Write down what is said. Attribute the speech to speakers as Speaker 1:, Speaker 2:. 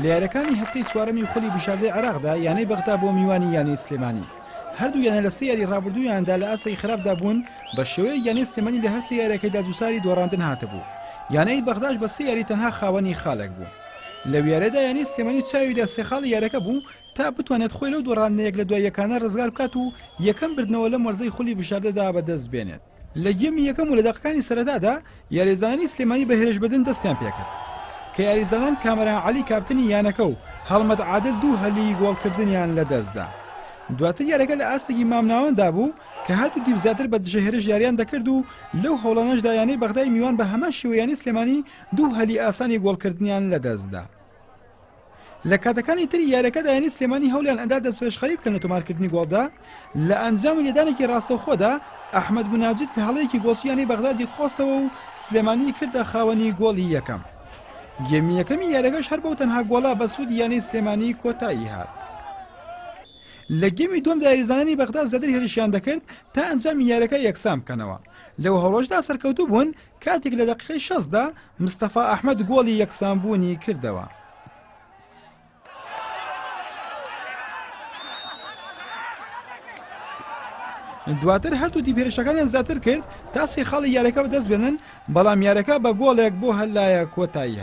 Speaker 1: لە یاریەکانی هەفتەی چوارەمی خولی بژاردەی عێراقدا یانەی بەغدا بۆ میوانی یانەی سلێمانی هەردوو یانە لە سێ یاری ڕابردوویاندا لە ئاستی خراپدا بوون بە شێوەیە یانەی سلێمانی لە هەرسێ یاریەکەیدا دووساری دۆڕاندن هاتبوو یانەی بەغداش بە سێ یاری تەنها خاوەنی خالێک بوو لە ویارەدا یانەی سلێمانی چاوی لە سێخاڵی یارەکە بوو تا بتوانێت خۆی لەو دۆڕاندنەیەک لە دوای یەکانە ڕزگار بکات و یەکەم بردنەوە لەم وەرزەی خولی بژاردەدا بەدەست بێنێت لە گێمی یەکەم و لە دەقەکانی سەرەتادا یاریزانانی سلێمانی بە هێرشبردن دەستیان پێکرد کە یاریزانان کامەران عەلی کاپتنی یانەکە و هەڵمەت عادل دوو هەلی گۆڵکردنیان لەدەستدا دواتر یارەکە لە ئاستێکی مامناوەندا بوو کە هەردوو دیو زیاتر بە دژە هێرش یاریان دەکرد و لەو هەوڵانەشدا یانەی بەغدای میوان بە هەمان شێوەیانی سلێمانی دوو هەلی ئاسانی گۆڵکردنیان لەدەستدا لە کاتەکانی تری یاریەکەدا یانی سلێمانی هەولیان ئەدا دەستپێشخەری بکەن لە تۆمارکردنی گۆڵدا لە ئەنجامی لێدانێکی ڕاستەوخۆدا ئەحمد بناجد لە هەڵەیەکی گۆچیانی بەغدادی قۆستەوە و سلێمانی کردە خاوەنی گۆڵی یەکەم گێمی یەکەمی یاریەکەش هەر بەو تەنها گۆڵا بە سوود یانی سلێمانی کۆتایی هات. لە گەمی دوم دایریزانانی بەغدا زیاتر هێرشیان دەکرد تا ئەنجامی یارەکە یەکسان بکەنەوە لەو هەڵۆژدا سەرکەوتوو بوون کاتێک لە دەقیقەی شەست دا مستەفا ئەحمەد گۆڵی یەکسانبوونی کردەوە. دواتر هەردوو دیپێرشەکانیان زیاتر کرد تا سێ خاڵی یارەکە بەدەست بێنن بەڵام یارەکە بە گۆڵێک بۆ هەلایە کۆتاییە.